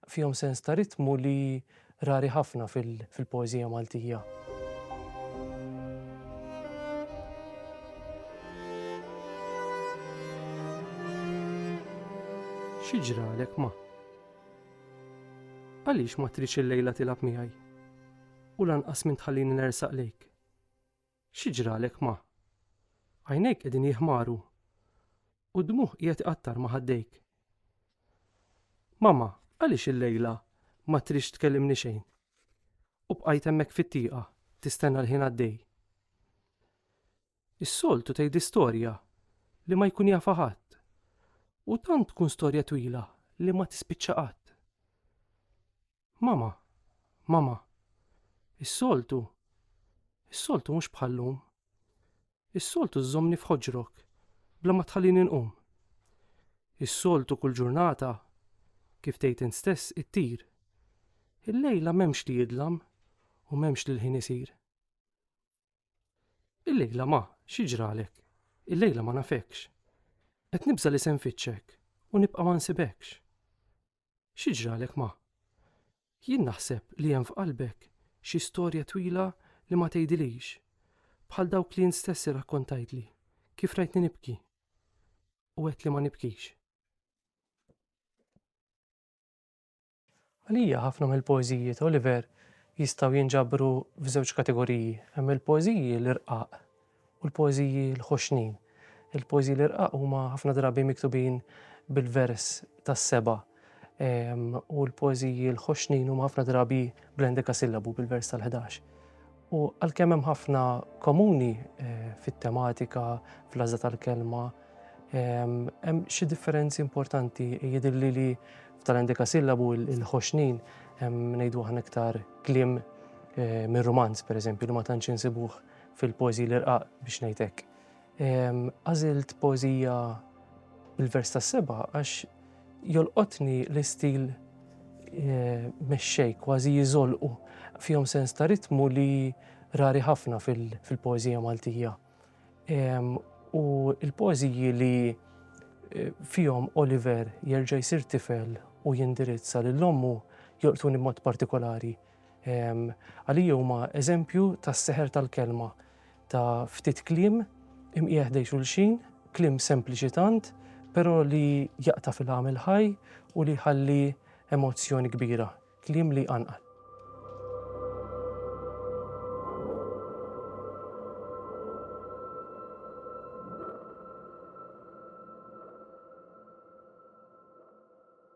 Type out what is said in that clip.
Fihom sens ta' ritmu li rari ħafna fil-poeżija Maltija. Xi ġralek ma? Għaliex ma tridx illejla tilgħab miegħi u lanqas minn tħallini nersaq lejk? Xi ġralek ma? Għajnejk qegħdin jiħmaru u d-dmugħ qiegħed iqattar ma' ħaddejk. Mama, għaliex illejla ma tridx tkellimni xejn? U bqajt hemmhekk fit-tieqa tistenna l-ħin għaddej. Is-soltu tgħid storja li ma jkun jafha ħadd. U tant tkun storja twila li ma tispiċċa qatt. Mama, mama, is-soltu, is-soltu mhux bħallum. Is-soltu żżommni f'ħoġrok bla ma tħallini nqum. Is-soltu kull ġurnata kif tgħid int stess ittir. Il-lejla m'hemmx li jidlam u m'hemmx li l-ħin isir. Il-lejla ma, xi ġralek? Il-lejla ma nafekx. Qed nibża li se nfittxek u nibqa' ma nsibekx. Xi ġralek ma? Jien naħseb li hemm f'qalbek xi storja twila li ma tgħidilix, bħal dawk li int stess irrakkontajtli kif rajtni nibki u għedt li ma nibkix. Għalija ħafna mill-poeżiji ta' Oliver jistgħu jinġabru f'żewġ kategoriji. Hemm il-poeżiji l-irqaq u l-poeżiji l-ħoxnin. Il-poeżiji l-irqaq huma ħafna drabi miktubin bil-vers tas-seba' u l-poeżiji l-ħoxnin huma ħafna drabi bl-endekasillabu, bil-vers tal-ħdax. U għalkemm hemm ħafna komuni eh, fit-tematika, fl-għażla tal-kelma, ehm, hemm xi differenzi importanti jidilli li tal-endika sillabu il-ħoxnin hemm ngħidu aħna iktar kliem eh, mir-romanz pereżempju li ma tantx insibuh fil-poeżi l-irqaq biex ngħidlek. Għażilt poeżija bil-vers tas-seba' għax jolqotni l-istil eh, mexxej kważi jiżolqu fihom sens ta' ritmu li rari ħafna fil-poeżija Maltija. U l-poeżiji li eh, fihom Oliver jerġa' jsir tifel u jindirizza lil ommu jolqtuni mod partikolari. Għalija huma eżempju tas-seħer tal-kelma, ta' ftit kliem imqiegħ ħdejn xulxin, kliem sempliċi tant, però li jaqta' fil-għam il-ħaj u li jħalli emozzjoni kbira, kliem li jqanqal.